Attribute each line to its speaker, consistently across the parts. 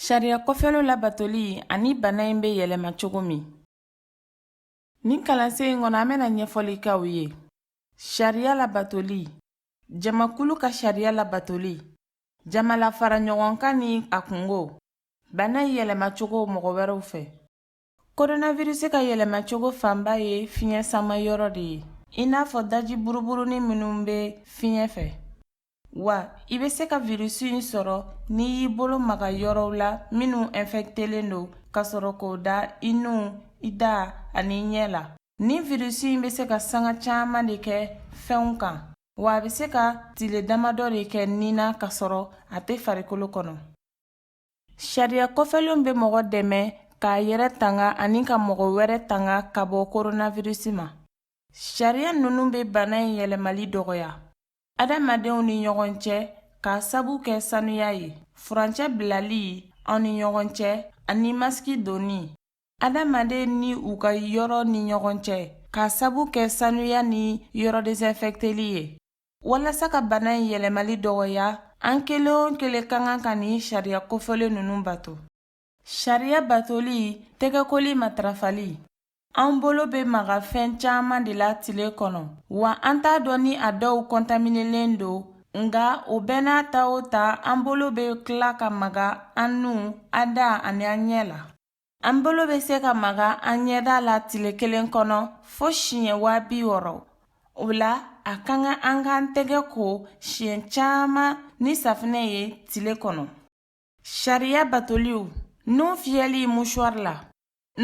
Speaker 1: Sariya kofɔlenw labatoli ani bana in bɛ yɛlɛma cogo min Nin kalansen in kɔnɔ an bɛna ɲɛfɔli k'aw ye sariya labatoli jamakulu ka sariya labatoli jama lafara ɲɔgɔn kan ni a kunko bana in yɛlɛmacogo mɔgɔ wɛrɛw fɛ koronavirisi ka yɛlɛmacogo fanba ye fiɲɛ sama yɔrɔ de ye i n'a fɔ daji buruburunin minnu bɛ fiɲɛ fɛ Wa i bɛ se ka virus in sɔrɔ n'i y'i bolo maga yɔrɔw la minnu infectelen don ka sɔrɔ k'o da i nu, i da ani i ɲɛ la. Nin virus in bɛ se ka sanga caman de kɛ fɛnw kan, wa a bɛ se ka tile damadɔ de kɛ ni na ka sɔrɔ a tɛ farikolo kɔnɔ. Sariya kofɔlenw bɛ mɔgɔ dɛmɛ k'a yɛrɛ tanga ani ka mɔgɔ wɛrɛ tanga ka bɔ koronavirisi ma. Sariya ninnu bɛ bana in yɛlɛmali dɔgɔya adamadenw ni ɲɔgɔn cɛ k'a sabu kɛ sanuya ye, furancɛ bilali aw ni ɲɔgɔn cɛ ani masiki donni adamaden ni u ka yɔrɔ ni ɲɔgɔn cɛ k'a sabu kɛ sanuya ni yɔrɔ desinfɛkteli ye. Walasa ka bana in yɛlɛmali dɔgɔya an kelen o kelen ka kan ka nin sariya kofɔlen ninnu bato sariya batoli tɛgɛkoli matarafali an bolo bɛ maga fɛn caman de la tile kɔnɔ wa an t'a dɔn ni a dɔw kɔntaminelen don nka o bɛɛ n'a ta o ta an bolo bɛ tila ka maga an nu an da ani an ɲɛ la An bolo bɛ se ka maga an ɲɛda la tile kelen kɔnɔ fo siɲɛ waa bi wɔɔrɔ o la a ka kan an k'an tɛgɛ ko siɲɛ caman ni safinɛ ye tile kɔnɔ sariya batoliw nu fiyɛli musuwari la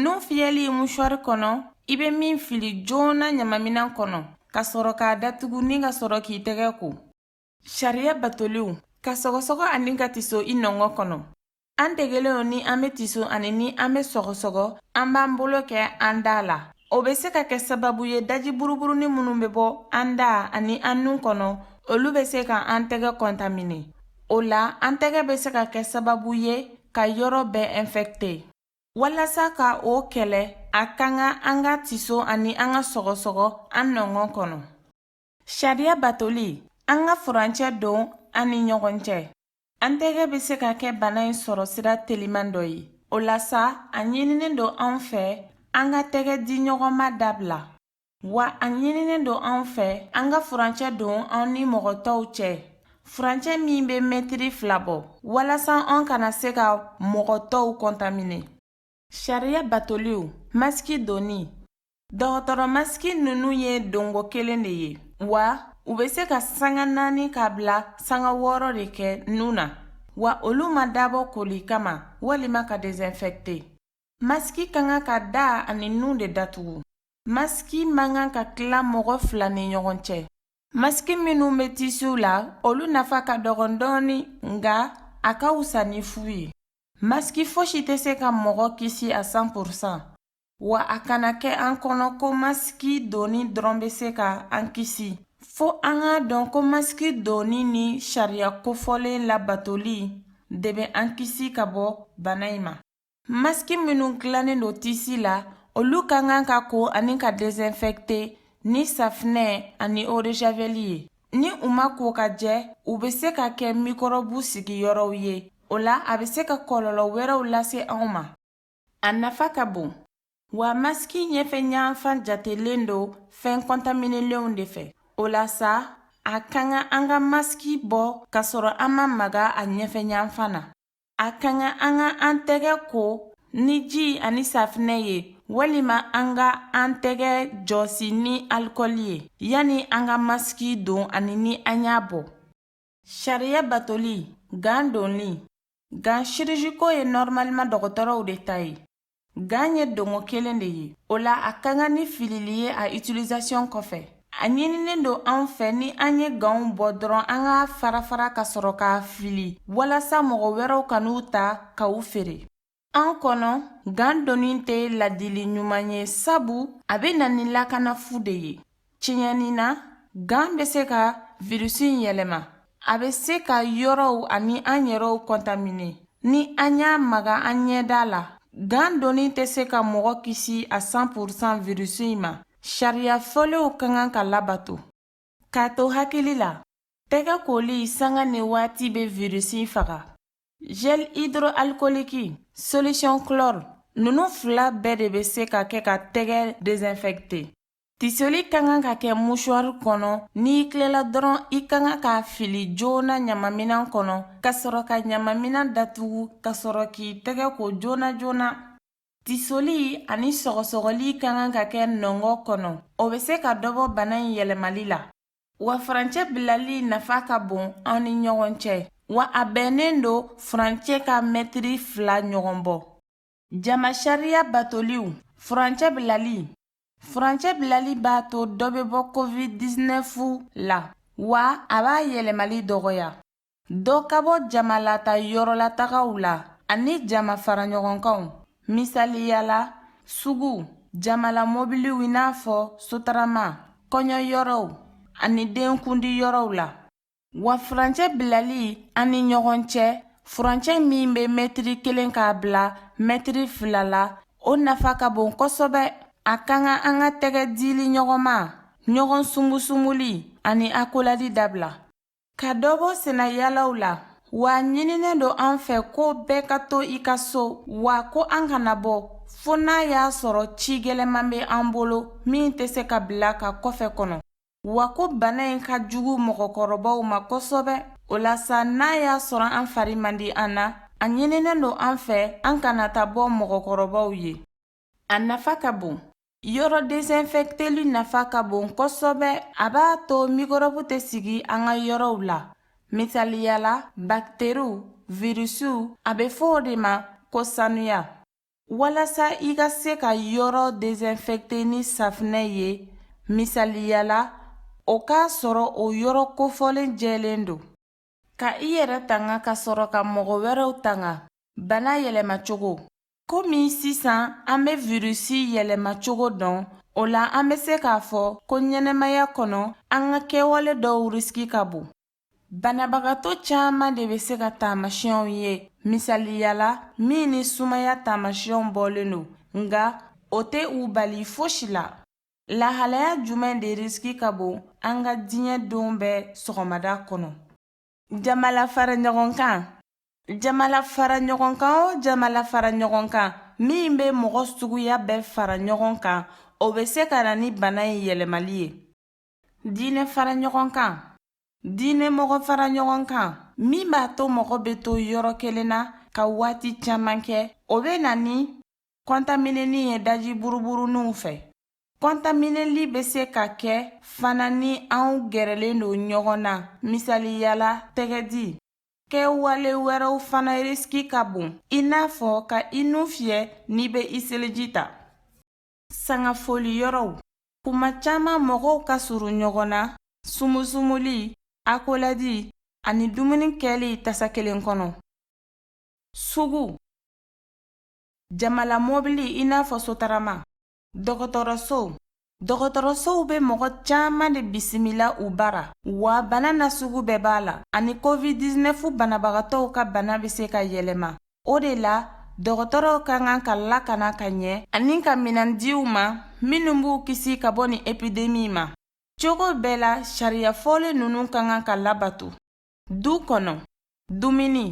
Speaker 1: nu fiyɛli musuwari kɔnɔ i bɛ min fili joona ɲamaminan kɔnɔ ka sɔrɔ k'a datugu ni ka sɔrɔ k'i tɛgɛ ko Sariya batoliw ka sɔgɔsɔgɔ ani ka tiso i nɔngɔn kɔnɔ an degelen don ni an bɛ tiso ani ni an bɛ sɔgɔsɔgɔ an b'an bolo kɛ an da la o bɛ se ka kɛ sababu ye daji buruburunin minnu bɛ bɔ an da ani an nun kɔnɔ olu bɛ se ka an tɛgɛ kɔntamine o la an tɛgɛ bɛ se ka kɛ sababu ye ka yɔrɔ bɛɛ infɛkite walasa ka o kɛlɛ a ka kan an ka tiso ani an ka sɔgɔsɔgɔ an nɔngɔn kɔnɔ Sariya batoli an ka furancɛ don an ni ɲɔgɔn cɛ. An tɛgɛ bɛ se ka kɛ bana in sɔrɔ sira teliman dɔ ye. O la sa, a ɲininen don an fɛ an ka tɛgɛ di ɲɔgɔn ma dabila. Wa a ɲininen don an fɛ an ka furancɛ don an ni mɔgɔ tɔw cɛ, furancɛ min bɛ mɛtiri fila bɔ, walasa an kana se ka mɔgɔ tɔw kɔntamine. Sariya batoliw masiki donni dɔgɔtɔrɔ masiki ninnu ye donko kelen de ye wa u bɛ se ka sanga naani ka bila sanga wɔɔrɔ de kɛ nun na wa olu ma dabɔ koli kama walima ka desinfɛkte masiki ka kan ka da ani nun de datugu masiki man kan ka tila mɔgɔ fila ni ɲɔgɔn cɛ masiki minnu bɛ tisiw la olu nafa ka dɔgɔn dɔɔni nka a ka wusa ni fu ye Maski fosi tɛ se ka mɔgɔ kisi a 100%, wa a kana kɛ an kɔnɔ ko maski donni dɔrɔn bɛ se ka an kisi. Fo an k'a dɔn ko maski donni ni sariya kofɔlen labatoli de bɛ an kisi ka bɔ bana in ma. Maski minnu dilannen don tisi la, olu ka kan ka ko ani ka desinfecter ni safinɛ ani eau de javel ye. Ni u ma ko ka jɛ u bɛ se ka kɛ mikɔrɔbu sigiyɔrɔw ye o la a bɛ se ka kɔlɔlɔ wɛrɛw lase anw ma a nafa ka bon wa masiki ɲɛfɛ ɲanfan jatelen don fɛn kɔntaminelenw de fɛ o la sa a ka kan an ka masiki bɔ ka sɔrɔ an ma maga a ɲɛfɛ ɲanfan na A ka kan an ka an tɛgɛ ko ni ji ani safinɛ ye walima an ka an tɛgɛ jɔsi ni alikɔli ye yanni an ka masiki don ani ni an y'a bɔ sariya batoli gan donni gan chirurgicaux ye normalement dɔgɔtɔrɔw de ta ye Gan ye donko kelen de ye. O la a ka kan ni filili ye a utilisation kɔfɛ. A ɲininen don an fɛ ni an ye ganw bɔ dɔrɔn an k'a farafara ka sɔrɔ k'a fili walasa mɔgɔ wɛrɛw kan'u ta ka u feere. An kɔnɔ, gan donni tɛ ladili ɲuman ye sabu a bɛ na ni lakana fu de ye. Tiɲɛni na, gan bɛ se ka virisi in yɛlɛma. A bɛ se ka yɔrɔw ani an yɛrɛw kɔntamine. Ni an y'a maga an ɲɛda la, gan donni tɛ se ka mɔgɔ kisi a 100 pourcent virisi in ma. Sariya fɔlenw ka kan ka labato. K'a to hakili la, tɛgɛ koli sanga ni waati bɛ virisi faga. Gel hydroalcoolique, solution chlore, ninnu fila bɛɛ de bɛ se ka kɛ ka tɛgɛ desinfecter. Tisoli ka kan ka kɛ musuwari kɔnɔ n'i tilela dɔrɔn i ka kan k'a fili joona ɲamaminan kɔnɔ ka sɔrɔ ka ɲamaminan datugu ka sɔrɔ k'i tɛgɛ ko joona joona tisoli ani sɔgɔsɔgɔli ka kan ka kɛ nɔngɔ kɔnɔ o bɛ se ka dɔbɔ bana in yɛlɛmali la wa furancɛ bilali nafa ka bon an ni ɲɔgɔn cɛ wa a bɛnnen don furancɛ ka mɛtiri fila ɲɔgɔn bɔ Jama sariya batoliw furancɛ bilali furancɛ bilali b'a to dɔ bɛ bɔ covid-19 la wa a b'a yɛlɛmali dɔgɔya dɔ ka bɔ jamalata yɔrɔlatagaw la ani jama faraɲɔgɔnkanw misaliya la sugu jamala mobiliw i n'a fɔ sotarama kɔɲɔyɔrɔw ani denkundi yɔrɔw la wa furancɛ bilali an ni ɲɔgɔn cɛ furancɛ min bɛ mɛtiri kelen k'a bila mɛtiri fila la o nafa ka bon kosɛbɛ a ka kan an ka tɛgɛ dili ɲɔgɔnma ɲɔgɔn sumusumuli ani akoladi dabila ka dɔ bɔ sennayalaw la wa ɲininen don an fɛ ko bɛɛ ka to i ka so wa ko an kana bɔ fo n'a y'a sɔrɔ ci gɛlɛman bɛ an bolo min tɛ se ka bila ka kɔfɛ kɔnɔ wa ko bana in ka jugu mɔgɔkɔrɔbaw ma kosɛbɛ o la sa n'a y'a sɔrɔ an fari man di an na a ɲininen don an fɛ an kana ta bɔ mɔgɔkɔrɔbaw ye a nafa ka bon yɔrɔ desinfɛkteli nafa ka bon kosɛbɛ a b'a to mikɔrɔbu tɛ sigi an ka yɔrɔw la misaliya la bakiteriw virusiw a bɛ fɔ o de ma ko sanuya Walasa i ka se ka yɔrɔ desinfecter ni safinɛ ye, misaliyala, o k'a sɔrɔ o yɔrɔ kofɔlen jɛlen don. Ka i yɛrɛ tanga ka sɔrɔ ka mɔgɔ wɛrɛw tanga. Bana yɛlɛmacogo. Komi sisan an bɛ virusi yɛlɛmacogo dɔn, o la an bɛ se k'a fɔ ko ɲɛnamaya kɔnɔ an ka kɛwale dɔw risiki ka bon. Banabagatɔ caman de bɛ se ka taamasiɲɛw ye misaliyala min ni sumaya taamasiɲɛw bɔlen don nka o tɛ u bali fosi la lahalaya jumɛn de risiki ka bon an ka diɲɛ don bɛɛ sɔgɔmada kɔnɔ jamalafaraɲɔgɔnkan jamalafaraɲɔgɔnkan o jamalafaraɲɔgɔnkan min bɛ mɔgɔ suguya bɛɛ fara ɲɔgɔn kan o bɛ se ka na ni bana in yɛlɛmali ye diinɛ fara ɲɔgɔn kan diinɛ mɔgɔ fara ɲɔgɔn kan min b'a to mɔgɔ bɛ to yɔrɔ kelen na ka waati caman kɛ o bɛ na ni kɔntaminɛni ye daji buruburuninw fɛ kɔntaminɛli bɛ se ka kɛ fana ni anw gɛrɛlen don ɲɔgɔn na misaliyala tɛgɛdi kɛwale wɛrɛw fana risiki ka bon i n'a fɔ ka i nu fiyɛ n'i bɛ i seliji ta Sangafoli yɔrɔw kuma caman mɔgɔw ka surun ɲɔgɔn na sumusumuli akoladi ani dumuni kɛli tasa kelen kɔnɔ sugu jamala mɔbili i n'a fɔ sotarama dɔgɔtɔrɔso dɔgɔtɔrɔsow bɛ mɔgɔ caman de bisimila u bara wa bana na sugu bɛɛ b'a la ani covid 19 banabagatɔw ka bana bɛ se ka yɛlɛma O de la dɔgɔtɔrɔw ka kan ka lakana ka ɲɛ ani ka minɛn di u ma minnu b'u kisi ka bɔ ni epidemi ma cogo bɛɛ la sariya fɔlen ninnu ka kan ka labato du kɔnɔ dumuni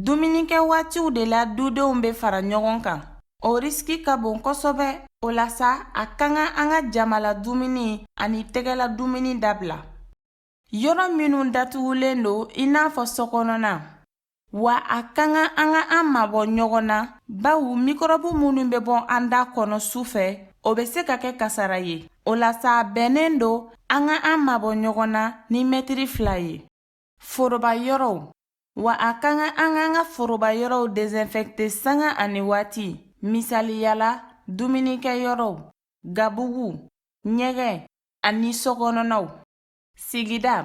Speaker 1: dumunikɛ waatiw de la dudenw bɛ fara ɲɔgɔn kan o risiki ka bon kosɛbɛ o la sa a ka kan an ka jamala dumuni ani tɛgɛla dumuni dabila Yɔrɔ minnu datugulen don i n'a fɔ sokɔnɔna wa a ka kan an ka an mabɔ ɲɔgɔn na bawo mikɔrɔbu minnu bɛ bɔ an da kɔnɔ su fɛ o bɛ se ka kɛ kasara ye o la sa a bɛnnen don an ka an mabɔ ɲɔgɔn na ni mɛtiri fila ye foroba yɔrɔw wa a ka kan an k'an ka foroba yɔrɔw desinfɛkte sanga ani waati misaliyala dumunikɛ yɔrɔw gabugu ɲɛgɛn ani sokɔnɔnaw Sigida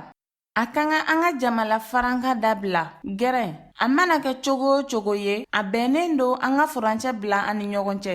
Speaker 1: A ka kan an ka jamala farankan dabila gɛrɛn a mana kɛ cogo o cogo ye a bɛnnen don an ka furancɛ bila an ni ɲɔgɔn cɛ